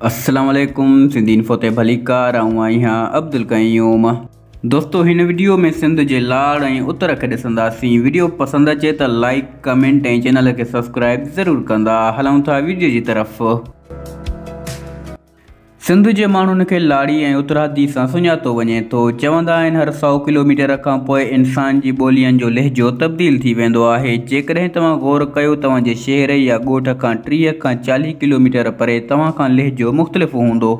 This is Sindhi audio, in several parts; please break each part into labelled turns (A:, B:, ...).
A: السلام عليڪم سنڌي انفو تي ڀليڪار آئون آهيان عبدالقيوم دوستو هن وڊيو ۾ سنڌ جي لاڙ ۽ اتر کي ڏسنداسين وڊيو پسند اچي ته لائيڪ ڪمينٽ ۽ چينل کي سبسڪرائيب ضرور ڪندا هلون ٿا وڊيو جي طرف سنڌ جي ماڻهن کي لاڙي ۽ اترادي سان سڃاتو وڃي ٿو چوندا آهن هر سؤ ڪلوميٽر کان پوء انسان جي ٻولين جو لهجو تبديل ٿي ويندو آهي جيڪڏهن توهان غور ڪيو توهان جي شهر يا ڳوٺ کان ٽيهه کان چاليهه ڪلوميٽر پري توهان کان لهجو مختلف هوندو.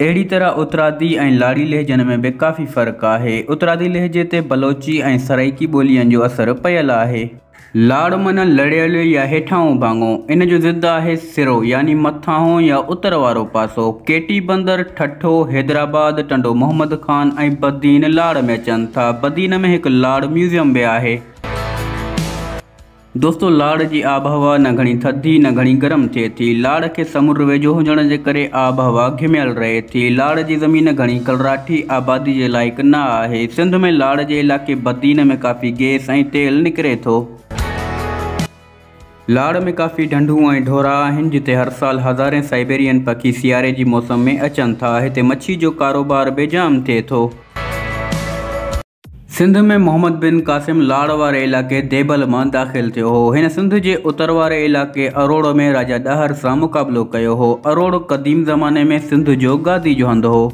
A: اهڙي طرح اترادي ۽ لاڙي لهجن ۾ به ڪافي فرق آهي. اترادي لهجي تي بلوچي ۽ سرائيڪي ٻولين جو اثر پيل آهي. لاڙ معنيٰ لڙيل يا هيٺاهون ڀاڱو. ان جو ضد آهي سرو يعني مٿاهون يا اتر وارو پاسو. ڪيٽي بندر، ٺٽو، حيدرآباد، ٽنڊو محمد خان ۽ بدين لاڙ ۾ اچن ٿا. بدين ۾ هڪ لاڙ ميوزيم به آهي. دوستو لاڙ جي آبهوا نه گهڻي ٿڌي نه گهڻي گرم ٿئي ٿي. لاڙ کي سمنڊ ويجهو هجڻ جي ڪري آبهوا گهميل رهي ٿي. لاڙ جي زمين گهڻي ڪلراٺي آبادي جي لائق نه آهي. سنڌ ۾ لاڙ جي علائقي بدين ۾ ڪافي گيس ۽ تيل نڪري ٿو. لاڙ ۾ ڪافي ڍنڍون ۽ ڍورا آهن جتي هر سال هزارين سائبيرين پکي سياري جي موسم ۾ اچن ٿا. هتي مڇي جو ڪاروبار به جام ٿئي ٿو. سنڌ ۾ محمد بن قاسم لاڙ واري علائقي ديبل مان داخل ٿيو هو. هن سنڌ جي اتر واري علائقي اروڙ ۾ راجا ڏاهر سان مقابلو ڪيو هو. اروڙ قديم زماني ۾ سنڌ جو گادي جو هنڌ هو.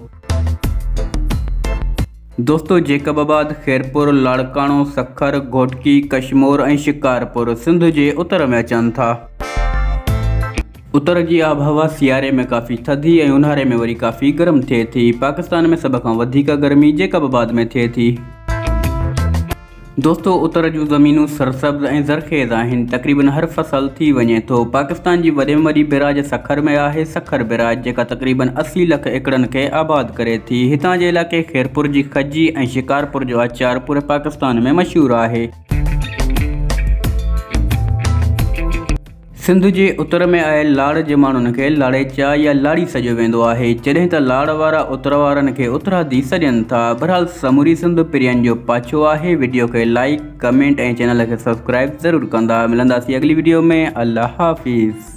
A: دوستو جيڪب آباد، خيرپور، لاڙڪاڻو، سکر، گهوٽڪي، ڪشمور ۽ شڪارپور سنڌ جي اتر ۾ اچن ٿا. اتر جي آبهوا سياري ۾ ڪافي ٿڌي ۽ اونهاري ۾ وري ڪافي گرم ٿئي ٿي. پاڪستان ۾ سڀ کان وڌيڪ گرمي جيڪب آباد ۾ ٿئي ٿي. دوستو اتر جون زمينون سرسبز ۽ زرخيز آهن. تقريبن هر فصل ٿي وڃي ٿو. پاڪستان جي وڏي ۾ وڏي بئراج سکر ۾ آهي، سکر بئراج، جيڪا تقريبن اسي لک ايڪڙن کي آباد ڪري ٿي. هتان جي علائقي خيرپور جي کجي ۽ شڪارپور جو آچار پوري پاڪستان ۾ مشهور آهي. سنڌ جي اتر ۾ آيل لاڙ جي ماڻهن کي لاڙيچا يا لاڙي سڏيو ويندو آهي، جڏهن ته لاڙ وارا اتر وارن کي اترادي سڏين ٿا. بھرحال سموري سنڌ پرين جو پاڇو آهي. وڊيو کي لائيڪ، ڪمينٽ ۽ چينل کي سبسڪرائيب ضرور ڪندا. ملنداسين اڳلي وڊيو ۾ الله حافظ.